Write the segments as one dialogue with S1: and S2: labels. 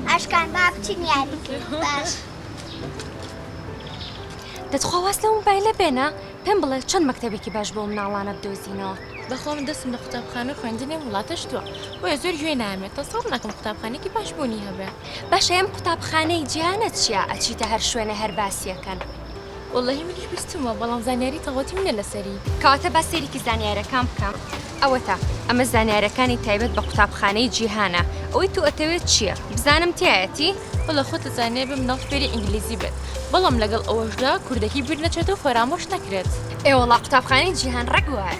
S1: ئاشکان با بچین یاری کرد باش. دە تخوا واز لەو مۆبایلە بێنە پێم بڵێ چەند مەکتەبێکی باش بۆ ئەو مناڵانە بدۆزینەوە. بەخوا من دەستم لە قوتابخانە و خوێندنی وڵاتە شتووە بۆیە زۆر گوێ نایەمێ تەسەوڕ ناکەم قوتابخانەیەکی باش بوونی هەبێ. باشە ئەم قوتابخانەی جیهانە چیە ئەچیتە هەر شوێنێ هەر باسیەکەن. واللەهی منیش بیستومە بەڵام زانیاری تەواوەتیم نیە لەسەری. کەواتە با سەیرێکی زانیارەکان بکەم ئەوەتا ئەمە زانیارەکانی تایبەت بە قوتابخانەی جیهانە ئەوەی تو ئەتەوێت چیە بزانم تیایەتی؟ وەڵا خۆت ئەزانێ بێ مناڵ فێری ئینگلیزی بێت بەڵام لەگەڵ ئەوەشدا کوردەکی بیر نەچێت و فەرامۆش نەکرێت. ئێ وەڵا قوتابخانەی جیهان ڕێک وایە.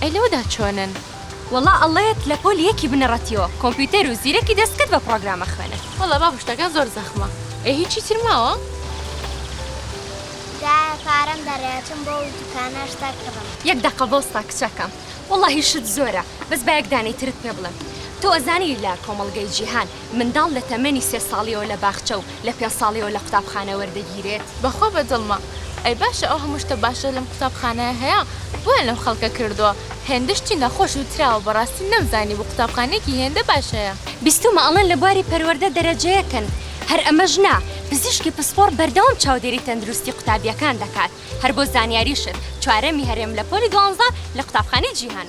S1: ئەی لەوەدا چۆنن؟ وەڵا ئەڵێت لە پۆلی یەکی بنەڕەتیەوە کۆمپیوتەر و زیرەکی دەستکرد بە پڕۆگرام ئەخوێنن. وەڵا بابە شتەکان زۆر زەخمە. ئەی هیچی تر ماوە؟ دایە پارەم دەرێ ئەچم بۆ ئەو دوکانە شتەک کڕم. یەک دەقە بۆستە کچەکەم. وەڵاهی شت زۆرە بەس با یەک دانەی ترت پێ بڵێم تۆ ئەزانی لە کۆمەڵگەی جیهان منداڵ لە تەمەنی سێ ساڵیەوە لە باخچە و لە پێنج ساڵیەوە لە قوتابخانە وەردەگیرێت؟ بەخوا بەدڵمە ئەی باشە ئەو هەموو شتە باشە لەم قوتابخانەیە هەیە بۆیان لەم خەڵکە کردووە هێندە شتی نەخۆش وتراوە بەڕاستی نەمزانیبوو قوتابخانەیەکی هێندە باش هەیە. بیستومە ئەڵێن لە بواری پەروەردە دەرەجە یەکن هەر ئەمەش نا پزیشکی پسپۆڕ بەردەوام چاودێری تەندروستی قوتابیەکان دەکات هەر بۆ زانیاریشت چوارەمی هەرێم لە پۆلی دوانزە لە قوتابخانەی جیهان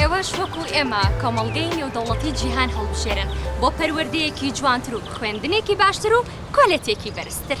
S1: ئێوەش وەکو ئێمە کۆمەڵگەی نێودەوڵەتی جیهان هەڵبژێرن بۆ پەروەردەیەکی جوانتر و خوێندنێکی باشتر و کۆلێتێکی بەرزتر.